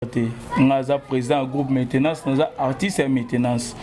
te nga aza président ya groupe maintenance naza artiste ya maintenance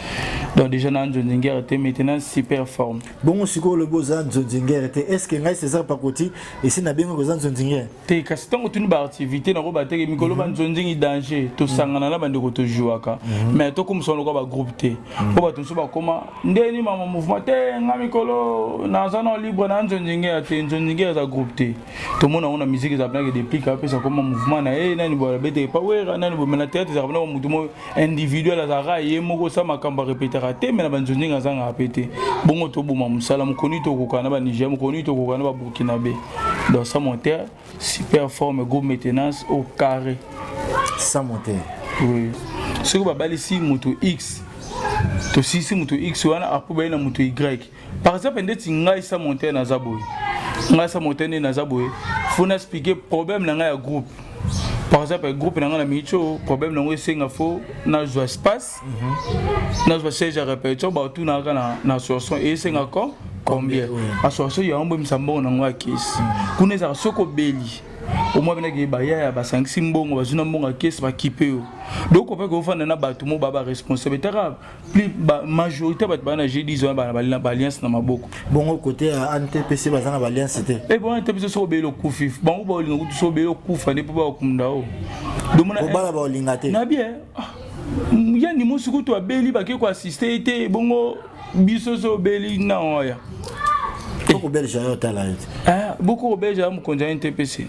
donc déjà na nzonzingere te maintenance super forme bongo sikoyo olobi oza nzonzingere te est ce que ngai césar pakoti esi nabengaki oza nzonzingere te kasi ntango tuni baactivité nako bateke mikolo mhm. banzonzingi danger tosangana na bandeko tojuaka mhm. mais tokomisa lokola bagroupe te mhm. mpo bato mosusu bakoma ndeni mama mouvement te nga mikolo naza na libre na nzonzingere te nzonzingere eza groupe te tomona yango na musique eza penake deplic apesa koma mouvement na ye nani boala bete epa wera nani boye me na théâtre ezaka penaka motu moko individuel azalaka ye moko sa makambo arepetaka te me na banzonzingi azangaka pe te bongo toboma mosala mokoni tokoka na baniger mokoni tokoka na baburkinabe donc sa monter super forme go maintenance au carré sa monter oui. soki babalisi moto x tosisi moto x wana apo baye na moto y par exemple ndeti ngai sa montagne naza boye ngai sa montagne naza boye faut na expliquer problème na ngai ya groupe par exemple groupe na ngai na micho problème na yango esenga fo nazwa espace mhm. nazwa siège ya répétition bautunaka na, na association esenga ko combien association yango boyebisa mbongo na yango ya kesi mhm. kuna ezalaka soki obeli omwa benaki bayaya basangisi mbongo bazwi na mbongo ya kesi bakipe yo donc ope kofanda na bato mo ba baresponsable etaka plus ba majorité bato bana je dis wana bana ba alliance na maboko bongo côté ya ANTPC baza na ba alliance te eh bon ANTPC so belo kufi bango ba olinga kutu so belo kufa ne po ba kumda o domona ko bala ba olinga te na bien ah, ya ni musu kutu abeli ba ke ko assister te bongo biso so beli na oya boko belge yo tala yo te eh boko belge ya mokonzi ya ANTPC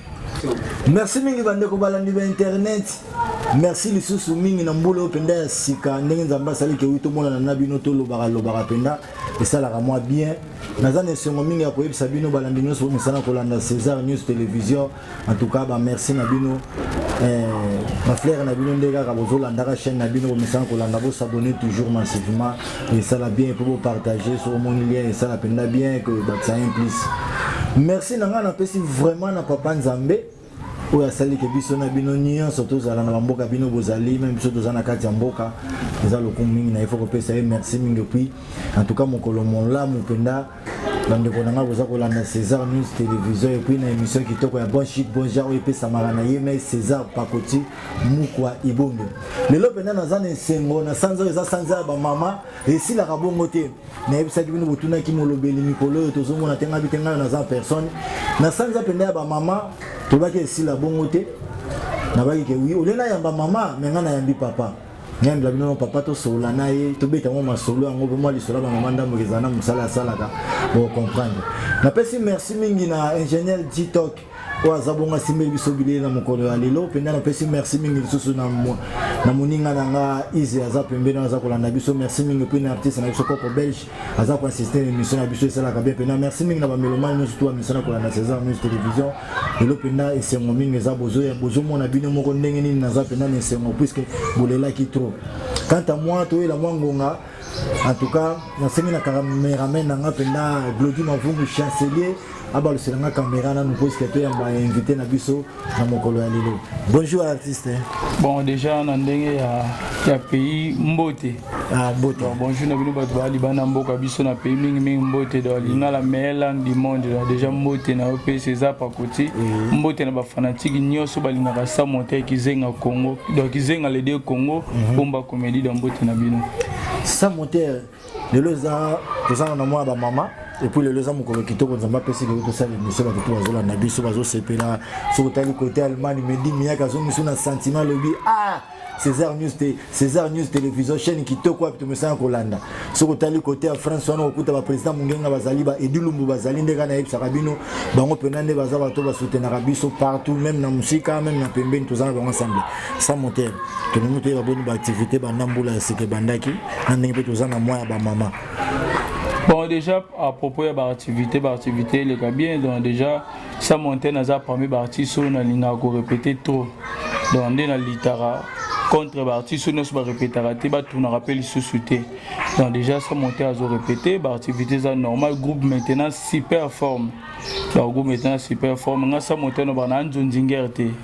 merci mingi bandeko balandi ba internet merci lisusu mingi na mbula oyo mpenza ya sika ndenge nzambe asali kewi tomonana na bino tolobaka lobaka mpenza esalaka mwa bien naza na esengo mingi ya koyebisa bino balandi nyonso bomesana kolanda césar news télévision en tout cas bamerci na bino eh, baflere na bino nde kaka bozolandaka chaîne na bino bomesana kolanda bosabone toujours massivement esala bien mpo bopartage so omoni lien esala mpenza bien ke bakisa un plus merci na ngai napesi vraiment na papa nzambe oyo asali ke biso na bino nyonso tozala na bamboka bino bozali meme biso toza na kati ya mboka eza lokumu mingi na ye fo kopesa ye merci mingi puis en tout cas mokolo molamu mpenza bandeko na ngai boza kolanda césar news télévision epuis na émission kitoko ya bon chic bon genre oyo epesamaka na ye mai césar pakoti mukwa ibombe lelo mpenza naza na esengo na sanza oyo eza sanza ya bamama esilaka bongo te nayebisaki bino botunaki molobeli mikolo oyo tozomona te ngai bite ngai naza personne na sanza mpenza ya bamama tobaki esila bongo te nabaki ke wi olie nayamba mama me ngai nayambi papa nyandela bino papa tosolola na ye tobeta yango masolo yango mpo mwa lisolo ya bamama ndambo ezala na mosala asalaka bocomprendre napesi merci mingi na ingénieur dtok oyo aza bongo asimbeli biso bilei na mokolo ya lelo mpenza napesi merci mingi lisusu na moninga na nga ise aza pembeni aza kolanda biso merci mingi mpe na artiste na biso koko belge aza ko assister émission na biso esalaka bien mpena merci mingi na bamelomani nyonso to bamisana kolanda césar news télévision lelo mpena esengo mingi eza bozomona bino moko ndenge nini naza mpena na esengo puiske bolelaki trop quant à moi toyela mwa ngonga en tout cas nasengi na cameraman na nga mpena glodi mavungu chancelier abalusela nga camera nanu puiske toyamba invité na biso na mokolo ya lelo bonjour artiste bon déjà na ndenge ya, ya pays mbote ah, mbote donc, bonjour na bino bato baya libanda mboka biso na pays mingi mingi mbote donc lingala meilleur langue du monde donc déjà mbote na yo mpe césar pakoti oui. mbote na bafanatike nyonso balingaka sa monte kizenga congo donc kizenga lede congo mm -hmm. bomba comédie donc mbote na bino sa monte lelo eza tozana na mwana bamama epuis lelo eza mokolo kitoko nzambe apesi lelo tosala emisio bato mpe bazolanda biso bazosepela soki otali kote allemagne medi miyaka azongiso na sentiment alobi ah césar news te césar news télévision chaîne kitoko wapi tomesana kolanda soki otali kote ya france wana okokuta baprésident mongenga bazali ba edilumbu bazali nde kaka nayebisaka bino bango mpena nde baza bato basutenaka biso partout même na mosika même na pembeni toza na bango ensemble sans moteur tolingi toyeba boni baactivité banda mbula ya sika ebandaki na ndenge mpe toza na mwa ya bamama bon déjà à propos ya baactivité baactivité eleka bien donc déjà sa monte naza parmi baartiste oyo nalingaka korepete trop donc nde nalitaka contre baartiste oyo nyonso barepetaka te batunaka mpe lisusu te donc déjà sa monte azo répété baactivité eza normal groupe maintenant super forme donc groupe maintenant super forme nga sa monte nobana anzonzingere te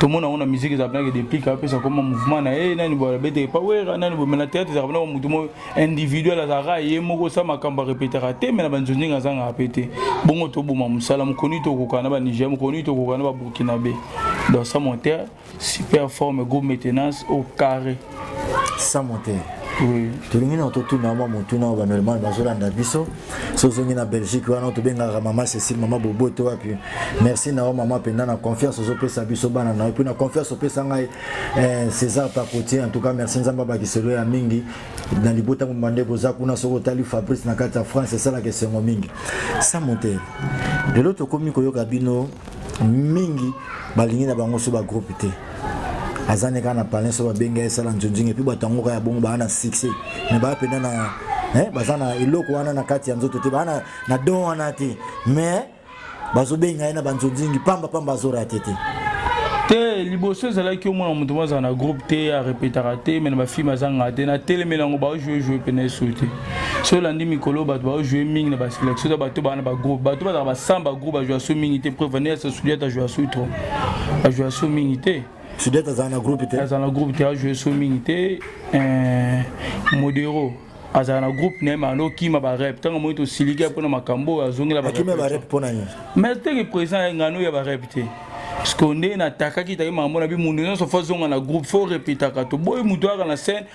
tomona yango na musique eza penake deplique apesa koma mouvement na ye nani boye abeteke pawera nani boye me na théâtre ezaka penaka motu moko individuel azalaka ye moko osa makambo arepetaka te me na banzonzingi azangaka pe te bongo toboma mosala mokoni tokoka na baniger mokoni tokoka na baburkinabe dans sa monter super forme go maintenance au carré sans moteur tolingi na totuna mwa motuna oyo banormal bazolanda biso so ozongi na belgique wana tobengaka mama cécile mama boboto wapi merci na yo mama mpenza na confiance ozopesa biso bana na yo mpe na confiance opesa ngai eh, césar pacotier en tout cas merci nzambe abakiselo ya mingi na libota mobimba ndeko oza kuna soki otali fabrice na kati ya france esalaka esengo mingi sa motere lelo tokomi koyoka bino mingi balingi na bango so bagroupe te aza ne kaka na palin so babenga ye sala nzonzinga epuis bato yango kaka ya bongo baa na succès mais baa mpenza na eh, baza na eloko wana na kati ya nzoto te baa na, na don wana te mais bazobenga ye na banzonzingi pamba pamba azorate te te liboso ezalaki omona moto moko azala na groupe te arepetaka te me na bafilme azangaka te na telemeli yango baojoue joue mpena esu te soki olandi mikolo bato baojoue mingi na baselektion to bato baa na bagroupe bato bazala basam bagroupe bajoua so mingi te preuve nde yasa sudiata ajoua so trop ajoua so mingi te sudiata azala na groupe te azala na groupe te ajoue so mingi te eh, modero azala na groupe na ye ma alokima barep ntango amoni tosiliki mpo na makambo oyo azongela barep mpo na nini mais teke présent ya ngano ya barep te siko nde natakaki taki makambo na bi mondo nyonso fo azonga na groupe fo repetaka toboyi moto ayaka na scène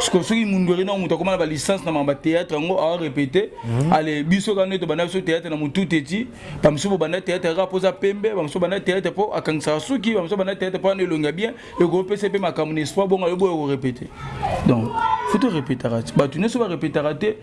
sikoyo soki mundwere nao moto akoma na balicence na mamba théâtre yango awa répété mhm. ale biso kaka nde tobanda biso théâtre na motutu eti bamosusu bobanda théâtre kaka mpo oza pembe bamosusu banda théâtre mpo akangisaka suki bamosusu banda théâtre mpo ana elongi ya bien ekopesa mpe makambo na espoir bongo ayoboya korépété donc futu répétaka ti bato nyonso barépétaka te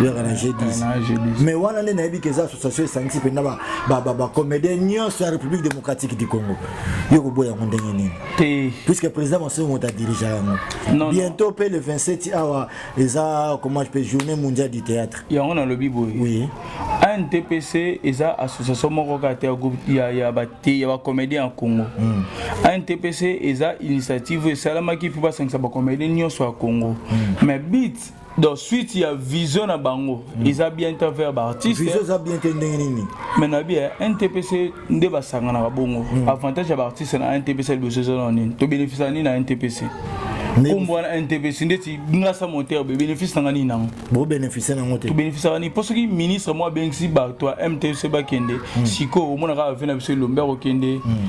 yaka na G10 mais wana nde nayebi ke eza association esangisi mpenza bacomédien nyonso ya république démocratique du congo yo koboya yango ndenge nini puisque président masoi moto adirige yango bientôt mpe le 27 awa eza comment je peux journée mondiale du théâtre yango nalobi boye oui antpc eza association moko kaka te ya bacomédien ya congo antpc hmm. eza initiative esalamaki mpo basangisa bacomédien nyonso ya congo mais hmm. bit donc suite ya vision na bango mm. eza bien te envers baartiste vision eza bien te ndenge nini mais na bien ntpc nde basanganaka bongo mm. avantage ya baartiste na ntpc liboso eza na nini tobénéficia nini na ntpc nkombo wana ntpc ndeti ngasa montere bebénéfice nanga nini nango bobénéficie nango te tobénéficiaka nini mpo soki ministre moko abengisi bato ya mtc bakende hmm. sikoyo omona kaka ve na biso elombe akokende hmm.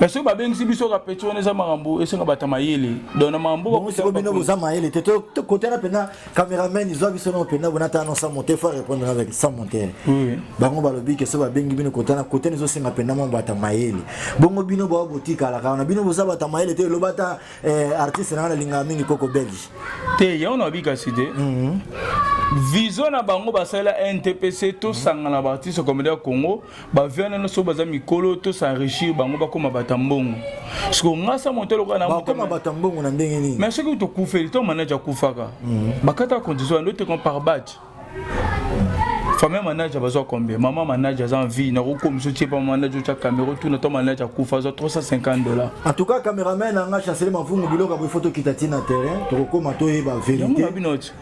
mais soki babengisi biso kapeti wana eza makambo esenga bata mayele donc na makambo bino boza mayele te tokotela mpenza cameraman izwa biso nao mpenza bona ata non sans monter faut répondre avec sans monter bango balobi ke so babengi bino kotana kote na ezosenga mpenza mwa bata mayele bongo bino bao botikalaka wana bino boza bata mayele te eloba ata eh, artiste na wana alingaka mingi koko belge te yango na babikasi te mhm. vision na bango basala ntpc tosangana baartiste comédien ya congo ba vieux wana nyonso baza mikolo to s'enrichir bango bakoma bata mbongo siko nga sa moto lokola na bakoma bata mbongo na ndenge nini mais soki tokufeli to manager akufaka mhm. bakata condition ya ndote comme par batch famille manager bazwa combien maman manager aza en vie nakokomisa otie pa manager otya camera otuna to manager akufa azwa 350 dollars en tout cas cameraman anga chancele mavungu biloko boye foto kita ti na terrain tokokoma toyeba verité bino ti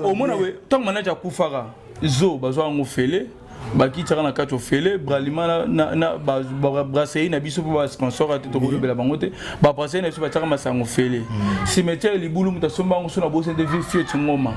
omona boye ntango manager akufaka zo bazwa yango fele bakitisaka na kati ofele bralima na brasserie na biso mpo basponsor ate tokolobela bango te babrasserie na biso batiaka masango ofele mm. cimetière libulu moto asomba yango so nabosani te fio tingoma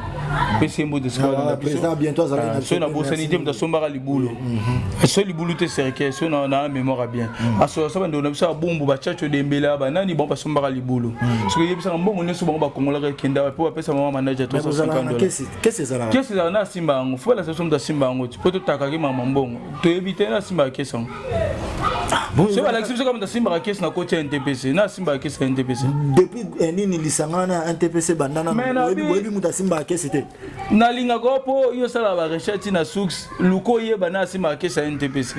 mpe sembo te soki ah, nabosani te moto asombaka libulu mm-hmm. so libulu te cercueil so na mémoire bien mm. asosa bandeko na biso babumbu bachacho dembela banani bango basombaka libulu mm. soki eyebisaka mbongo nyonso bango bakongolaka ekenda mpo bapesa mama manaja 350 kesi ezalaka kesi ezalaka na asimba yango fo balakisa biso moto asimba yango ti mpo totakaki mama mbongo toyebi te na asimbaka kesi yango ah, so balakisi biso kaka moto asimbaka kesi na koti ya ntpc na asimbaka kesi ya ntpc depuis eh, nini lisanga wana ya ntpc bandana boyebi moto asimbaka kesi te nalingaka mpo yo osalaka barecherche na suks luka oyeba na asimaka kesi ya ntpc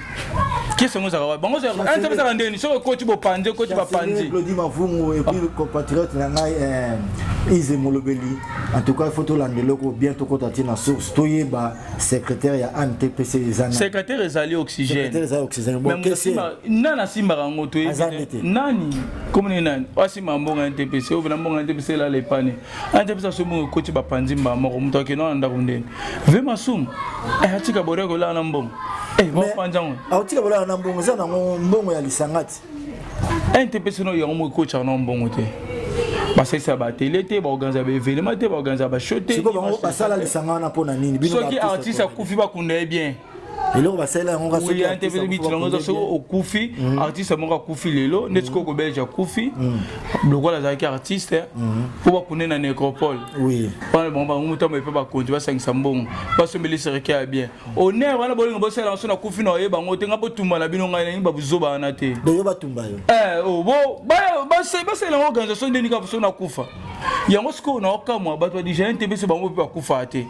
kesi yango ezalaka wapi bango ntpc ezalaka ndeni soki ekoti bopanzi ekoti bapanzi claudi mavungu epuis compatriote na ngai eh, ize molobeli en tout cas il faut tolanda eloko bien tokota ti na source toyeba secrétaire ya antpc eza na secrétaire ezali oxygène ezali oxygène bon kesi nani asimbaka yango toyebi nani komoni nani asimbaka mbongo ya ntpc oyo na mbongo ya ntpc elala epane anja mpesa soki bongo ekoti bapanzi mbaa moko moto akenda na ndako ndeni ve masumu eh, atika boria kolala na mbongo eh, bapanza ngo akotika kolala na mbongo eza nango mbongo ya lisanga ti ente mpesa no yango moko ekotaka na mbongo te basalisa batele te baorganiza baevenema te baorganiza basho te basala lisanga wana mpo na nini soki artiste akufi bakunda ye bien eloko basalela yango nga soki ya tevele bitilanga eza soki okufi mm. artiste moko akufi lelo ndeti koko belge akufi mm. lokola azalaki artiste mm. mpo bakune na necropole wana bango bango motambo epe bakonzi basangisa mbongo basombeli serike ya bien honneur wana bolingo bosala yango so nakufi na oye bango te nga botumba na bino ngai nangi babuzoba wana te eh, oh, basalela yango organisation ndeni kaka so nakufa yango sikoyo na okamwa bato ya dijalene te biso bango mpe bakufaa te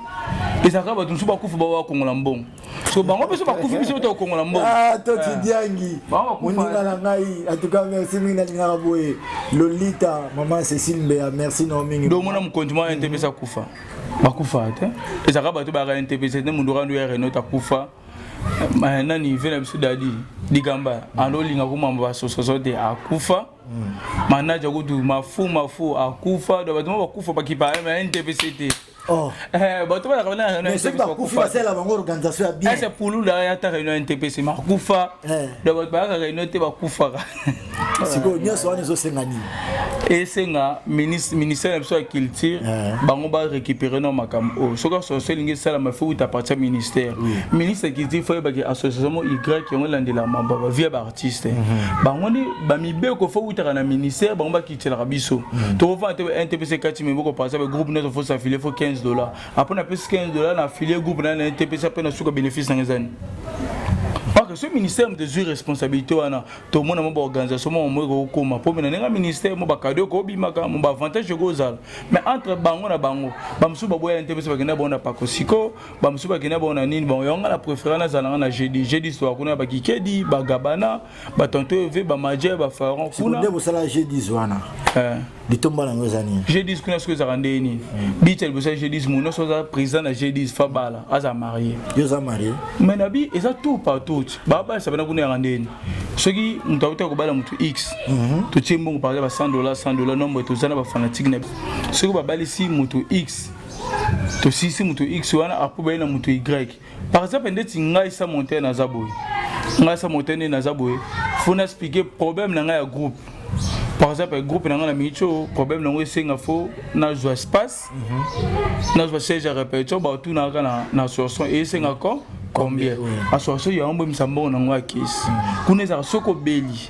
ezalaka bato mosusu bakufa bao bakongola mbongo so bango mpe so bakufi biso to okongola mbongo ah, to tidiangi ah. moninga na ngai atuka merci mingi nalingaka boye lolita mama cecile mbeya merci nao mingi domona mokonzi mwa ente mpe sakufa bakufa te ezalaka bato bayaka ente mpe te mondo kando ya renault akufa eh, nani ve na biso dadi ligamba alolinga komamba basososo te akufa manaja kutu mafu mafu akufa do bato bakufa bakipa na ntpc te oh. eh, bato balakasoki bakufi basala bango organisation ya bien ese pulula yata réunion ya ntpc makufa eh. do bato bayaka réunion te bakufaka sikoyo nyonso wana ezosenga nini esenga ministère na biso ya culture eh. bango barécupere na makambo oyo soki association elingi esalama fo uta parti ya ministère ministre ya culture fo yebaki association mo y yango elandelama via ba artiste mhm. bango nde bamibeko fo utaka na ministère bango bakitisaka biso mhm. tokofana te ntpc kati miboko par exemple groupe nyonso fo s'affilie fo 15 dollar apres napesi 15 dollar na affilie groupe na na ntpc apres na suka bénéfice nanga ezani parce que ce ministère moto ezwi responsabilité wana tomona mwa baorganisation mwa mamoi kokokoma mpo mena ndenge ministère mo bakado ekobimaka mo baavantage ekozala mais entre bango na bango bamosusu baboyani te biso bakenda bango na pakosiko bamosusu bakenda bango na nini bango yango ngai na préféré nazala ngai na jeudi jeudi soir kuna bakikedi bagabana batonto eve bamaja bafaron kunande bosala jeudi wana eh. litomba nango eza nini jeudi kuna soki ezalaka ndenge nini hmm. bita liboso ya jeudi mo nyonso aza président na jeudi fabala aza marie yo oza marie mai na bi eza tour par tour babalisa bana kuna yaka ndenge nini soki moto akotaka kobala moto x mhm. totie mbongo par exemple ba 100 dollar 100 dollar nombre toza na bafanatike na biso soki babalisi moto x tosisi moto x wana apo baye na moto y par exemple ndeti ngai sa montaine naza boye ngai sa montaine naza boye fo na explike problème na ngai ya groupe par exemple groupe na ngai na micho problème nango esenga fo nazwa espace mhm. nazwa siège ya répétition bautunaka na, na sourson esenga ko combien aswasoi yango boyebisa mbongo na yango ya kesi kuna ezalaka soki obeli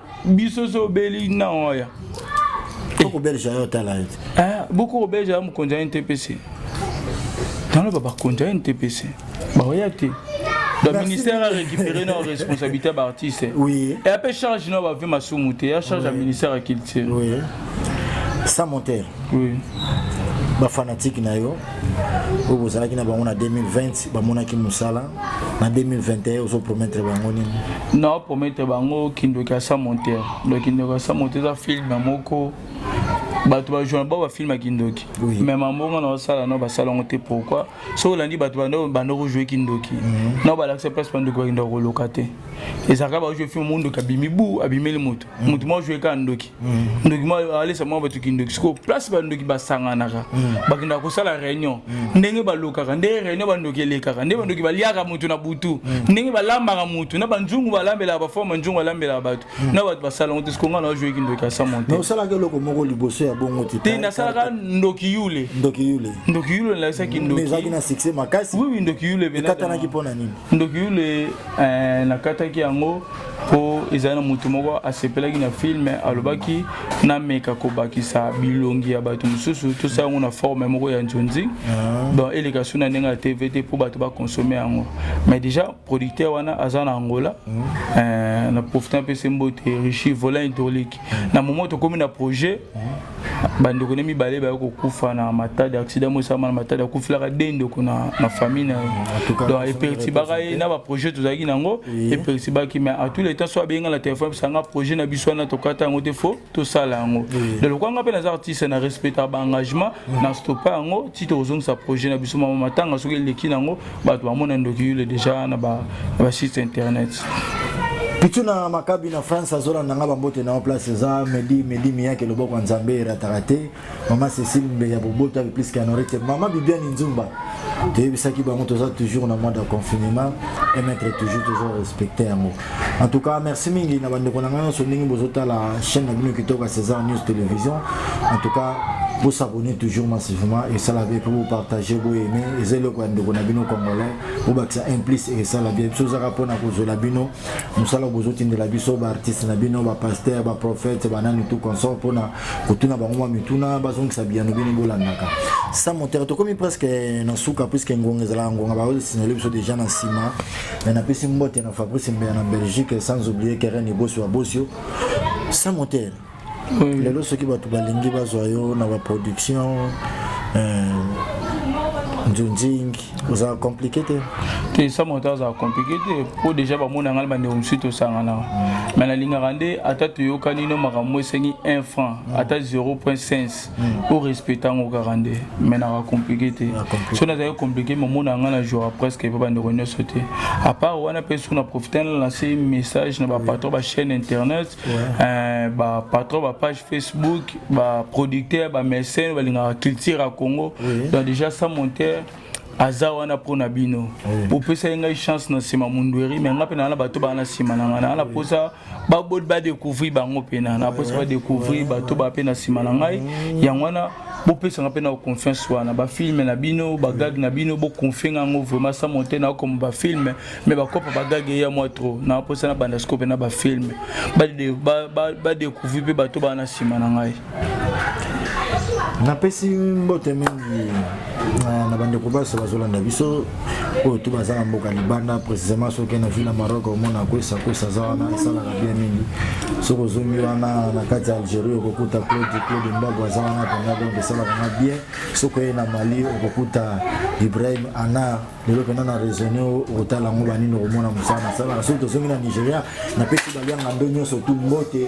biso so obeli na oya okobelisa yo otala ye eh, boko kobelisa ya mokonzi ya ntpc naloba bakonzi ya ntpc baoya te le ministère a récupéré nos responsabilités par artiste oui et après charge non va ma soumouté ya charge à ministère à culture oui sans monter oui ba fanatique na yo oyo bozalaki na bango na 2020 bamonaki mosala na 2021 ozo promettre bango nini na promettre bango kindoki asa monteur donc kindoki asa monteur eza film moko bato bajourna bao bafilme ya kindoki me mambongo na osala nao basala yango te pourkui soki olandi bato banda kojoue kindoki mhm. nao balakisa place bandoki bakenda koloka te ezalaka baojoue filme mondoki abimi bu abimeli moto moto mwa joue kaka ndoki ndoki mwa alesa mwa bato kindoki sikoyo place bandoki basanganaka bakendaka kosala réunion ndenge balokaka nde réunion bandoki elekaka nde bandoki baliaka moto na butu ndenge balambaka moto na banzungu balambelaka baforme nzungu alambelaka bato na bato basalango te sikoyo ngai na joue kindoki asa monte osalaka eloko moko liboso ya bongo te te nasalaka ndoki yule ndoki yule ndoki yule nalakisaki ndoki ezalaki na succès makasi oui oui ndoki yule ekatanaki mpo na nini ndoki yule nakataki yango mpo ezali na moto moko asepelaki na filme alobaki nameka kobakisa bilongi ya bato mosusu tosala yango na forme moko ya nzonzi ah. donc eleka su na ndenge ya tv te mpo bato bakonsome yango mais déjà producteur wana aza na angola hmm. eh, na profite apesi mbote richi vola hydraulique na momo tokomi na projet bandeko ne mibale baye kokufa na matadi accident moko esalama na matadi akufelaka de ndeko na, na famille na ye donc epertibaka ye na baprojet tozalaki na yango epertibaki mais à tous les temps so abenga na téléphone bisanga projet na biso wana tokata yango te fo tosala yango donc lokola nga mpe naza artiste na respectaka baengagement na stopa yango ti tokozongisa projet na biso mama matanga soki eleki na yango bato bamona ndoki yule deja na ba site internet pitu na makabi na france azolanda nga bambote na yo place eza medi medi miyake loboko ya nzambe erataka te mama cecile mbe ya boboto ape plus kanore te mama bibiani nzumba toyebisaki bango toza toujours na mois de confinement emettre toujours tozo respecte yango En tout cas, merci mingi na bandeko na ngai nyonso ndenge bozotala chaîne na bino kitoko ya César News Télévision. En tout cas, vous s'abonnez toujours massivement et ça la vie pour vous partager, vous aimer. Et c'est le coin de Gonabino congolais. Vous bâtissez un plus et ça la vie. Si vous avez pour la cause de la bino, nous allons vous autres de la biso, bah artiste na bino, bah pasteur, bah prophète, bah nan tout comme ça pour na kutuna bah moi mituna, bah zong ça bien nous bino bolanaka. Ça mon territoire comme presque na souka puisque ngonga zala ngonga bah vous signalez biso déjà na sima. Mais napesi mbote na Fabrice Mbeya na Belgique sans oublier Keren Ibosi wa Bosio. Sans moteur. Oui. Lelo soki bato balingi bazwa yo na ba production euh, Njunjing oza compliqué te. Te sans moteur aza compliqué te po déjà bamona ngai bandeko mosusu tosangana. Mais nalingaka nde ata toyokani no makambo esengi 1 franc ata 0.5 hmm. o respecte yango kaka nde me naka compliqué te so nazali compliqué momona yanga na joura presque epa bandeko nyonso te apart wana mpe soki na profite na lance message na bapatron bachaîne internet euh, bapatron bapage facebook baproducteur bamécène balingaka culture ya congo donc déjà sans monter aza wana mpo na bino bopesaki ngai chance na nsima mundueri me ngai mpe naa na bato baa na nsima na ngai naa na mposa baboti badecouvrir bango mpena na mposa badecouvrir bato ba mpe na nsima na ngai mm. yango wana bopesanga mpe na confiance wana bafilme na bino bagage na bino boconfie nga yango vraiment sa monte na okoma bafilme mais bakopa bagage eya mwa trop na mposa na banda sikoyo mpe na bafilme badecouvrir mpe bato baa na nsima na ngai napesi mbote mingi na bandeko baso bazolanda biso oyo tu baza na mboka libanda précisément soki na ville ya maroc omona kwesa kwesa aza wana esalaka bien mingi soki ozongi wana na kati ya algérie okokuta claude claude mbago aza wana mpenza donc esalaka nga bien soki oye na mali okokuta ibrahim anar lelo mpenza na raisonne okotala yango banini okomona mosala nasalaka soki tozongi na nigéria napesi balianga ndo nyonso tu mbote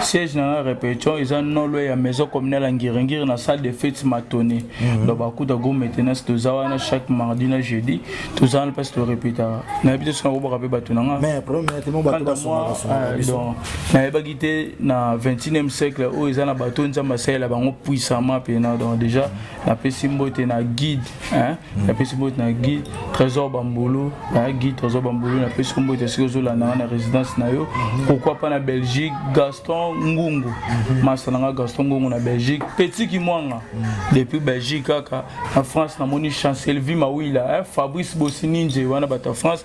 siège na nga répétition eza nolo ya maison communale ya ngiringiri na salle de fete matoni mhm. donc bakuta go maintenance toza wana chaque mardi na jeudi toza wana mpasi torepetaka nayebi te soki nakobaka mpe bato na nga nayebaki te na 21e siècle oyo eza na bato nzambe asalela bango puissamment mpena donc déjà napesi mbote na guide hein? napesi mbote na guy trésor bambulu na guy trésor bambulu napesi yo mbote soki ozolanda nga na résidence na yo pourquoi pas na belgique gaston ngungu masta na nga gaston ngungu na belgique petit kimwanga depuis belgique kaka na france namoni chancelle vi mawila fabrice bosininje wana bato ya france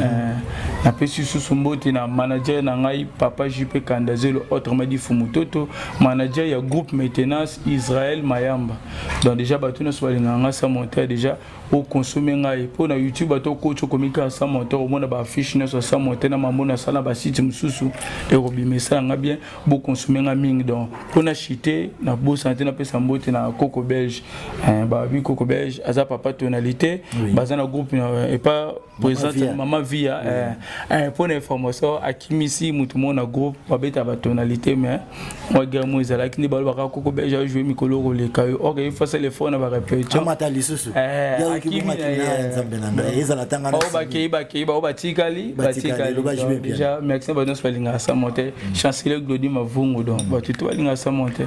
Euh, napesi lisusu mbote na manager na ngai papa jp kandazelo autrement dit fumutoto manager ya groupe maintenance israel mayamba donc déjà bato nyonso balingaka ngai sa monteur déjà okonsome ngai mpo na youtube bato okoki okomi kaka sa monteur omona baaffiche nyonso sa monteur na mambo nasala na basite mosusu ekobima esala ngai bien bo consommer nga mingi donc pona chite na bosa na pesa mbote na coco belge eh, ba bi coco belge aza papa tonalité oui. baza na groupe na et pas présente maman via oui. eh, eh, pona information akimisi mutu mona groupe ba beta ba tonalité mais moi guerre moi ezala kindi ba ba coco belge a jouer mikolo ko le kayo ok il faut le fond na ba répétition amata lisusu eh ya ki mona kina nzambe na ngai ezala tanga na ba ba kei ba kei ba ba tikali ba tikali déjà merci ba nos balinga sa monter chancelier glodi mavungu donc bato to balinga sa monte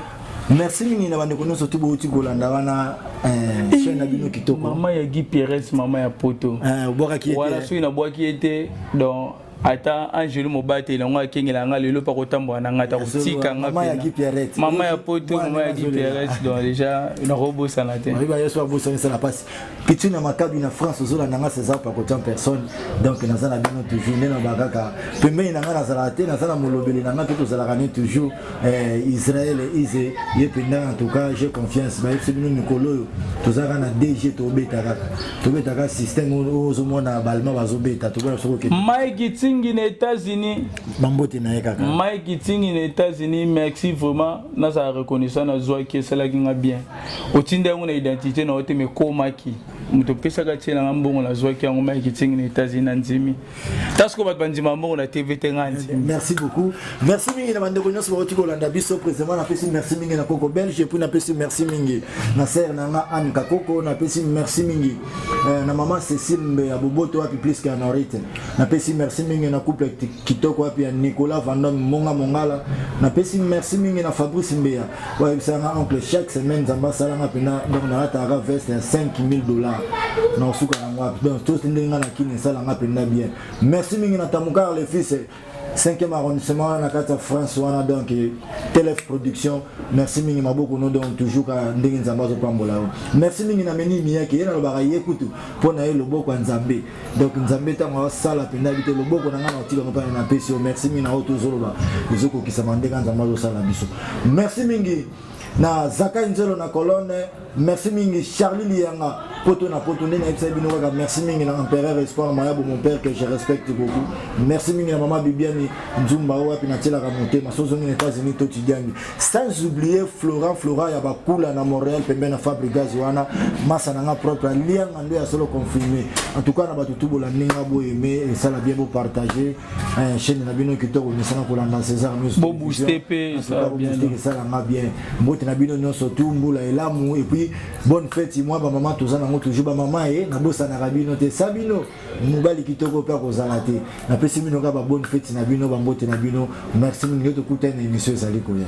merci mingi na bandeko nyonso to bouti kolanda wana eh, eh, chaîne na bino kitoko mama ya guy pierres mama ya poto eh, obwakaki ye wana soki nabwaki ye te donc ata angelu mobateli yango akengela nga lelo mpa kotambola na ngai ata kotika nga mama ya poto mama ya guy pierres donc déjà nakobosana te Pichu na makabi na France ozola nanga César Pakotian personne donc naza na bino toujours nde naba kaka pembeni na nga nazalaka te naza na molobeli na nga mpe tozalaka ne toujours eh, Israël Ize ye mpenza en tout cas j'ai confiance bayebisi bino mikolo oyo tozalaka na DG tobeta kaka tobeta kaka système oyo ozomona balma bazobeta tokoya soko okende Mike Itingi na États-Unis bambote na ye kaka Mike Itingi na États-Unis merci vraiment nazala reconnaissant nazwaki esalaki nga bien otinda yango na identité na yo te mekomaki moto pesaka tie nanga mbongo nazwaki yango mai kitingi na états-unis na ndimi ta soko bato bandima mbongo na tv te nga ndimi merci beaucoup merci mingi na bandeko nyonso bauti kolanda biso présentement napesi merci mingi na koko belge epuis napesi merci mingi na sere na nga anne kakoko napesi merci mingi eh, na mama cécile mbe ya boboto wapi plus ke anorite napesi merci mingi na couple kitoko wapi ya nicolas vandome monga mongala napesi merci mingi na fabrice mbeya oyebisa nga oncle chaque semaine nzambe asala nga mpena donc nalataka ka veste ya 5000 dollars na osuka na nga donc tosi ndenge nga na kini esala nga mpena bien merci mingi na tamukar le fils cinquième arrondissement wana na kati ya france wana donc telef production merci mingi maboko no donc toujours ka ndenge nzambe azopambola yo merci mingi na meni miyake ye nalobaka ye kutu mpo na ye loboko ya nzambe donc nzambe ntango asala mpenza yebi te loboko na ngai na otika mopana na pesi yo merci mingi na oyo tozoloba ezokokisama ndenge nzambe azosala biso merci mingi na zakai nzelo na colonne merci mingi charlie liyanga poto na poto nde nayebisa bino kaka merci mingi na empereur espoir mayabo mon père que je respecte beaucoup merci mingi na mama bibiani nzumba oyo wapi natielaka motema sozongi na états-unis to tidiangi sans oublier florent florent ya bakula na montréal pembeni na fabrigas wana masa na nga propre alianga nde ya solo confirme en tout cas na bato tubola ndinga boyeme esala bien bopartage eh, chaîne na bino kitoko mesana kolanda césar musesala nga bien mbote na bino nyonso tu mbula elamu epuis bonne fete mwa bamama toza nango toujours bamama ye eh, nabosanaka bino te sa bino mobali kitoko mpe akozala te napesi bino kaka babone feti na bino bambote na bino merci mingi tokutani na emission ezali koya